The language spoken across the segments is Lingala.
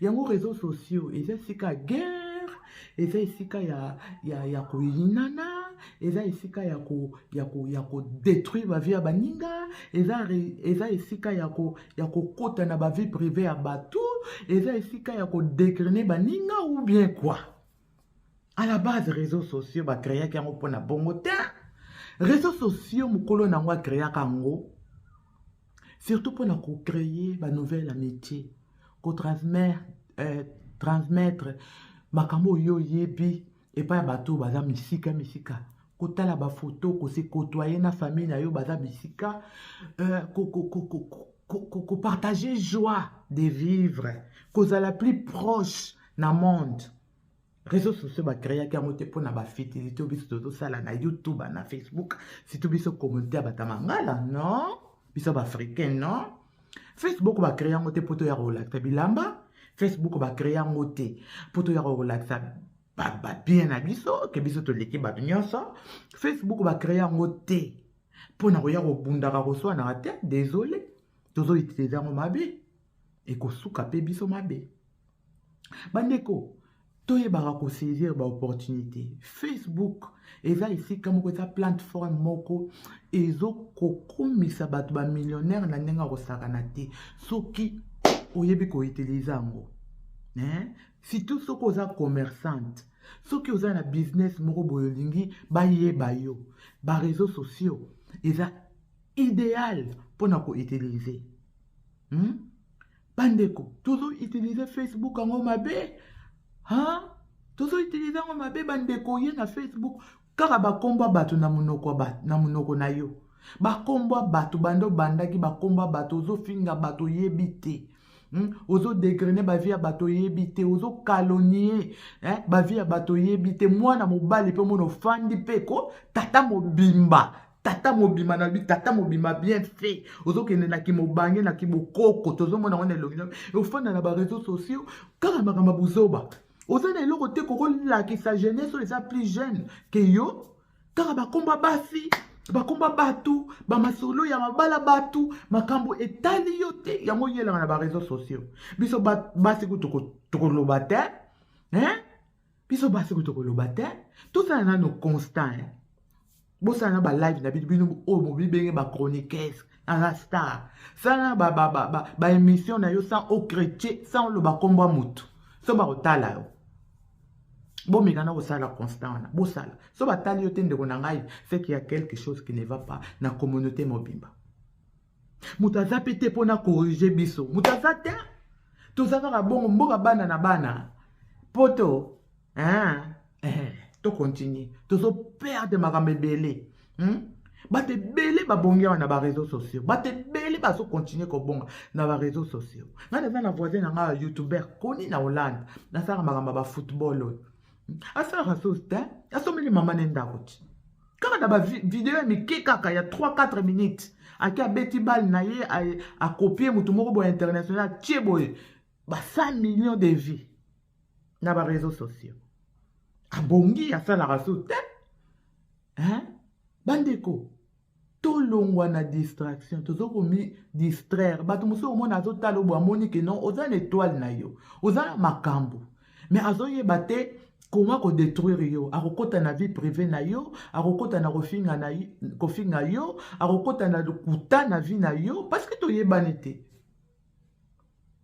yango réseaux sociaux eza esika ya guerre eza esika ya, ya, ya koyinana eza esika ya ko ya ko ya ko détruire ba vie ya baninga eza eza esika ya ko ya kokota na ba vie privée ya bato eza esika ya ko dégriner baninga ou bien quoi à la base réseaux sociaux bacreaki yango mpo na bongo te réseaux sociaux mokolo na yango acreaka yango surtout mpo na kocreye banouvelle amitié kotransmettre euh, transmettre makambo oyo oyebi epai ya bato baza misika misika kotala bafoto kosekotoye na famille na yo baza bisika euh, kopartage joie de vivre kozala plus proche na monde réseau sociaux bacreaki yango te mpo na bafitili to biso tozosala na youtube na facebook surtout biso communauté ya bata mangala non biso baafricain non facebook bacree yango te mpo toya kolakisa bilamba facebook bacree yango te mpo toya kolakisa babien na biso ke biso toleki bato nyonso facebook bacree yango te mpo na koya kobundaka koswanaka te désolé tozoutilize yango mabe ekosuka mpe biso mabe bandeko toyebaka kosaisir baopportunité facebook eza esika moko eza plateforme moko ezokokumisa bato bamillionnaire na ndenge ya kosakana te soki oyebi koutilize yango eh? surtout soki oza commerçante soki oza na business moko boye olingi bayeba yo bareseau sociaux eza idéal mpo na koutilize hmm? bandeko tozo utilize facebook yango mabe ha tozo utilize yango mabe bandeko ye na facebook kaka bakombo ya bato na monoko na monoko na yo bakombo ya bato banda obandaki bakombo ya bato ozofinga bato oyebi te Hmm? ozo degrene bavi ya bato oyebi te ozo kalonie eh? bavi ya bato oyebi te mwana mobali mpe omona ofandi mpe ko tata mobimba tata mobima na bi tata mobima bien fait ozokende na kimobange na kibokoko tozomona wana elongi na ofanda na bareseau sociaux kaka makambo ya buzoba oza na eloko te kokolakisa jeunesse oyo eza plus jeune ke yo kaka bakomba basi bakomba bato bamasolo ya mabala bato makambo etali yo te yango yelaka na bareseau sociaux biso basi kutu tokoloba te hein? biso basi kutu koloba te tosala nano constant eh. bosala na balive na bino bino oyo bobibenge bachroniquese aza star sala baémission na yo sans ocretier sans oloba nkombo ya motu so bakotala yo bomeka na kosala constant wana bosala so batali yo te ndeko na ngai seke ya quelque chose qui ne va pas na communauté mobimba moto aza mpe te mpo na corrige biso moto aza te toza kaka bongo mboka bana na bana poto hein? eh, tocontinue tozoperde makambo ebele hmm? bato ebele babongi awa na bareseau sociaux bato ebele bazokontinue kobonga na bareseau sociaux ngai naza na voisin na ngai ya youtuber koni na hollande nasalaka makambo ya bafootball oyo asalaka sosi te asombeli mama ne ndako ti kaka na bavideo ya mike kaka ya 3-4 minutes ake abeti bale na ye akopie motu moko boye international atie boye ba 100 millions de vie na bareseau sociaux abongi asalaka so te bandeko tolongwa na distraction toza komi distraire bato mosusu omona azotala obo amoni ke non oza na etoile na yo oza na makambo mais azoyeba te koma kodetruire yo akokota na vie privé na yo akokota na kofinga na kofinga yo akokota na lokuta na vie na yo parce que toyebani te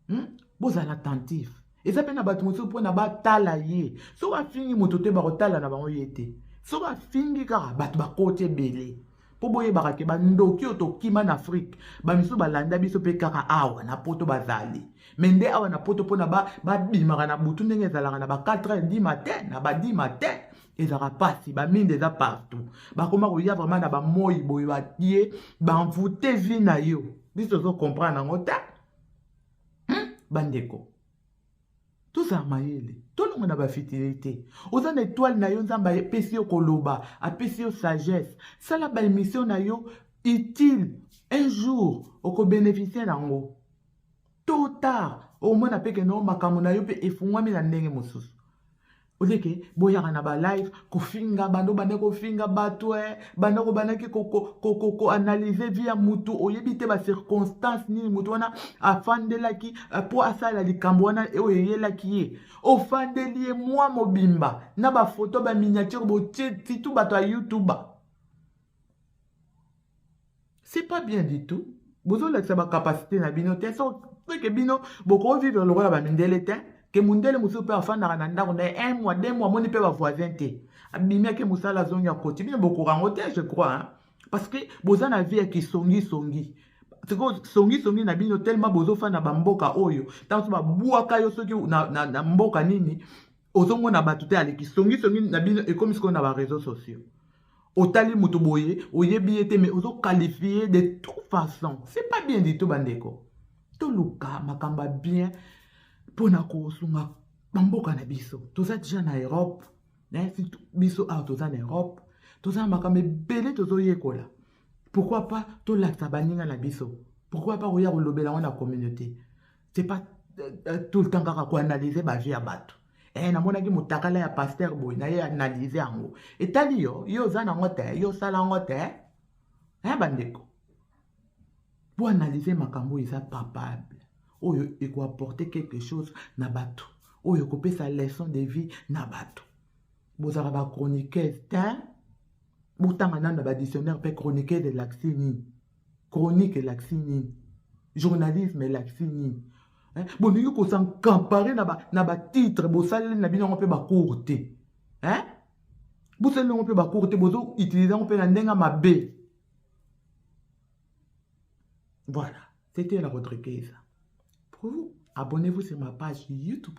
hmm? bozala attentif eza mpe na bato mosusu mpona batala ye soki afingi moto te bakotala na bango ye te soki afingi kaka bato bakoti ebele mpo boyebaka te bandoki oyo tokima na afrike bamisusu balanda biso mpe kaka awa na poto bazali me nde awa na poto mpona babimaka na butu ndenge ezalaka na ba 4 heures di matin na ba di matin ezalaka mpasi baminde eza partout bakoma koya vraimen na bamoi boye baye banvoute vi na yo biso tozo comprendre yango te hmm? bandeko tozala mayele tolonga na bafitile te oza na etoile na yo nzambe apesi yo koloba apesi yo sagesse sala baemisio na yo utile un jour okobeneficie nango to tard omona mpe kenoo makambo na yo mpe efungwami na ndenge mosusu oleke boyaka na balive kofinga bando banda kofinga bato e eh, banda kobandaki koanalyse vie ya motu oyebi te bacirconstance nini motu wana afandelaki eh, mpo asalela likambo wana oyo eyelaki ye ofandeli ye mwa mobimba na bafoto baminiature botie titu bato ya youtube c'est pas bien du tout bozolakisa bacapacité na bino te soke bino bokoki vivre lokola bamindele te ke mondele mosusu mpe afandaka na ndako na ye un mois deux mois amoni mpe bavoisin te abimi ake mosala azongi akoti bino bokoka yango te je crois hein? parce que boza na vie ya kisongisongi sikoyo songisongi na bino telema bozofanda bamboka oyo ntango so babwaka yo soki na, na, na mboka nini ozomona bato te aleki songisongi na bino ekomi sikoyo na bareseau sociaux otali moto boye oyebi ye te mais ozokalifie de tout façon c'est pas bien du tout bandeko toluka makambo ya bien mpo na kosunga bamboka na biso toza deja na europe eh, surtout biso awa toza na europe toza na makambo ebele tozoyekola pourkui pas tolakisa baninga na biso pourkui pas koya kolobela yango na communauté c'est pas euh, euh, tout le temps kaka koanalyse bavie ya bato eh, namonaki motakala ya paster boye na ye analyse yango etali yo yo oza nango te yo osala yango te eh, bandeko mpo analyse makambo oyo eza papable oyo ekoapporte quelque chose na bato oyo ekopesa leçon de vie na bato bozalaka bachroniqueuse te botanga nano na badictionnaire mpe chroniqueuse elakisi nini chronique elakisi nini journalisme elakisi nini eh, bolingi kosankampare na batitre ba bosaleli na bino yango mpe bakour te eh? bosaleli yango mpe bakour te bozo utilise yango mpe na ndenge mabe voilà c'était la rubrique eza pour vous abonnez-vous sur ma page youtube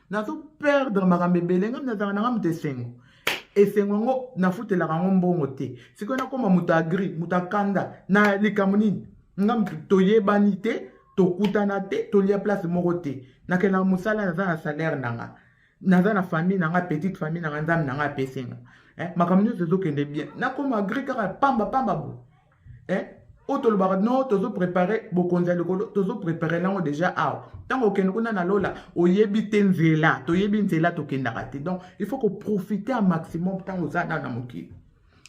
nazo perdre makambo ebele ngai nazalaka na ngai moto esengo esengo yango nafutelaka yango mbongo te sikoyo nakoma moto agri moto akanda na likambo nini nga moto toyebani te tokutana te tolia place moko te nakelaka mosala naza na salaire na nga naza na famille na nga petite famille na nga nzambe na nga apesi nga eh, makambo nyonso ezokende bien nakoma agri kaka pamba pamba boye eh? oyo tolobaka no tozoprepare bokonzi ya likolo tozoprepare nango deja awa ntango okende kuna na lola oyebi te nzela toyebi nzela tokendaka te donc il faut koprofite ya maximum ntango oza nano na mokili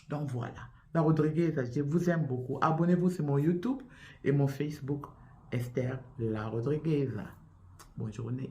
donc voilà na rodriguez je vous aime beaucoup abonnez vous sur mon youtube et mon facebook esther la rodriguez bonne journée